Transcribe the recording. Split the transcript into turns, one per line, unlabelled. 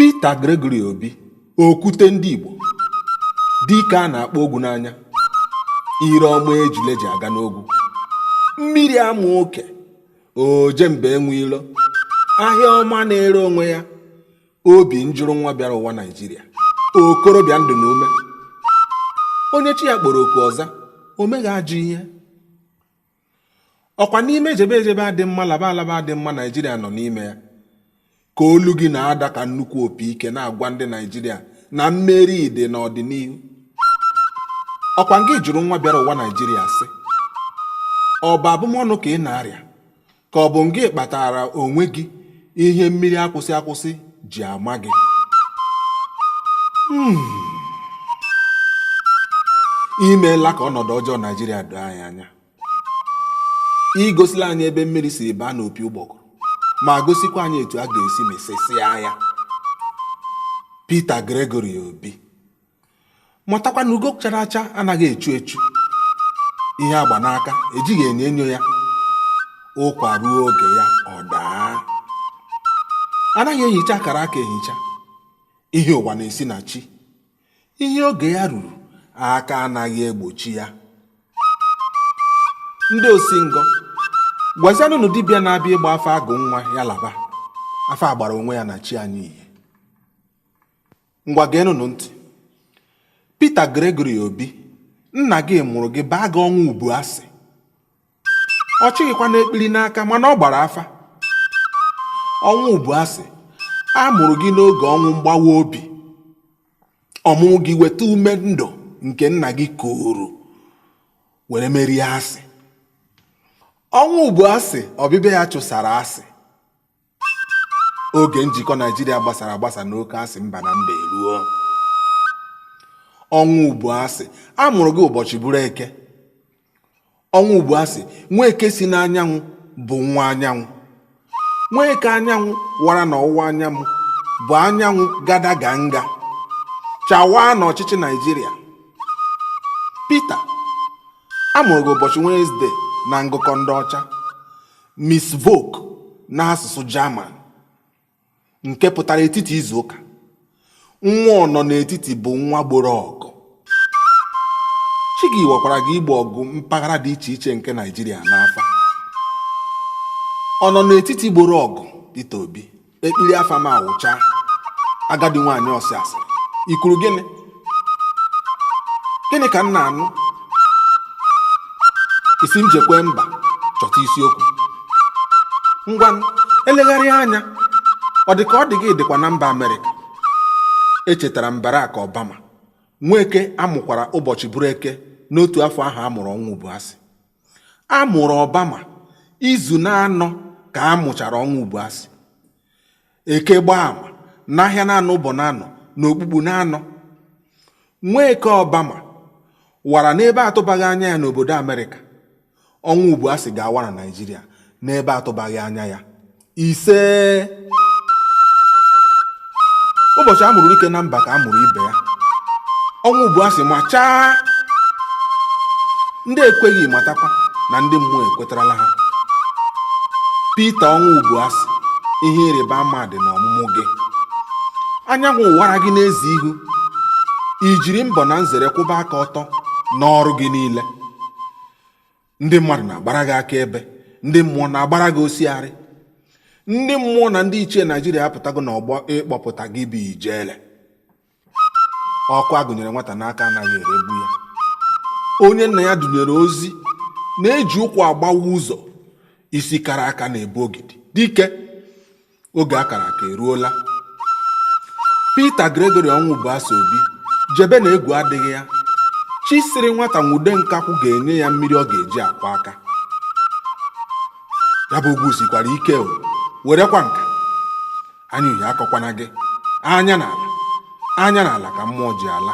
Peter Gregory Obi okwute ndị Igbo dike a na-akpọ ogwu n'anya ire ọma ejule ji aga n'ogwu mmiri ama oke oje mba enwe ilo ahịa ọma na-ere onwe ya obi njụrụ nwa bịara ụwa naijiria okorobịa ndụ na ume onye chi ya kpọrọ oku ọ za o meghị ajọ ihe ọkwa n'ime ejebe ejebe adị mma laba alaba adị mma naijiria nọ n'ime ya ka olu gị na-ada ka nnukwu opi ike na-agwa ndị Naijiria na mmeri dị n'ọdịnihu ọkwa ngị jụrụ nwa bịara ụwa Naijiria sị ọ bụ abụmọnụ ka ị na-arịa ka ọ bụ ngị kpatara onwe gị ihe mmiri akwụsị akwụsị ji ama gị hmm. i meela ka ọnọdụ ọjọọ Naijiria doo anyị anya i gosila anyị ebe mmiri si baa n'opi ụgbọgụrụ ma gosikwa anyị etu a ga-esi mesesịa ya Peter Gregory Obi matakwa na ugo chara acha anaghị echu echu ihe a gba n'aka ejighị enyo enyo ya ụkwa ruo oge ya ọ daa anaghị ehicha akara aka ehicha ihe ụwa na-esi na chi ihe oge ya ruru aka anaghị egbochi ya ndị osingọ gwazianụnụ dibịa na-abịa ịgba afa agụ nwa ya laba afa agbara onwe ya na chi anyị ihe ngwa geenụnụ ntị Peter Gregory Obi nna gị mụrụ gị baa gị Ọnwụbụasị ọ chịghịkwanụ ekpiri n'aka mana ọ gbara afa Ọnwụbụasị a mụrụ gị n'oge ọnwụ mgbawa obi ọmụmụ gị weta ume ndụ nke nna gị kuru were merie asị Ọnwụbụasị ọbịbịa ya chụsara asị oge njikọ naijiria gbasara agbasa n'oke asị mba na mba eruo Ọnwụbụasị a mụrụ gị ụbọchị bụrụ eke Ọnwụbụasị nwa eke si n'anyanwụ bụ nwa anyanwụ nwa eke anyanwụ wara na ọwụwa anyanwụ bụ anyanwụ gada ga nga chawaa na ọchịchị naijiria Peter a mụrụ gị ụbọchị Wednesday na ngụkọ ndị ọcha Mittwoch n'asụsụ German nke pụtara etiti izu ụka nwa ọnọ n'etiti bụ nwa gboro ọgụ chi gị wakwara gị igbo ọgụ mpaghara dị iche iche nke Naịjirịa n'afa ọnọ n'etiti gboro ọgụ Peter Obi ekpiri afa m awụcha agadi nwaanyị ọsị asịrị i kwuru gịnị gịnị ka m na-anụ ị sị m jekwee mba chọta isiokwu ngwa m elegharịa anya ọ dị ka ọ dị gị dịkwa na mba amerịka echetara m barak obama nweke a mụkwara ụbọchị bụrụ eke n'otu afọ ahụ a mụrụ ọnwụbụasị A mụrụ Obama izu na-anọ ka a mụchara Ọnwụbụasị. Eke gbaa ama, n'ahịa na-anọ ụbọ na-anọ, n'okpukpu na-anọ. Nweke Obama wara n'ebe atụbaghị anya ya n'obodo Amerịka. Ọnwụbụasị ga-awa na Naịjirịa n'ebe atụbaghị anya ya. ise ụbọchị a mụrụ dike na mba ka a mụrụ ibe ya Ọnwụbụasị machaa ndị ekweghị matakwa na ndị mmụọ ekwetarala ha Pita Ọnwụbụasị ihe ịrịba ama dị n'ọmụmụ gị anyanwụ waara gị n'ezi ihu i jiri mbọ na nzere kwụba aka ọtọ n'ọrụ gị niile ndị mmadụ na-agbara gị akaebe ndị mmụọ na-agbara gị osiarị ndị mmụọ na ndị ichie naijiria apụtago n'ọgbọ ịkpọpụta gị bụ ijele ọkụ a gụnyere nwata n'aka anaghị eregbu ya onye nna ya dunyere ozi na-eji ụkwụ agbawa ụzọ isi kara aka na-ebu ogidi dike oge akara aka eruola Peter Gregory Ọnwụbụasị Obi jebe na egwu adịghị ya chi sịrị nwata nwude nkakwụ ga-enye ya mmiri ọ ga-eji akwọ aka ya bụ egwu sikwara ike o werekwa nka anya uhie akọkwana gị anya n'ala anya n'ala ka mmụọ ji ala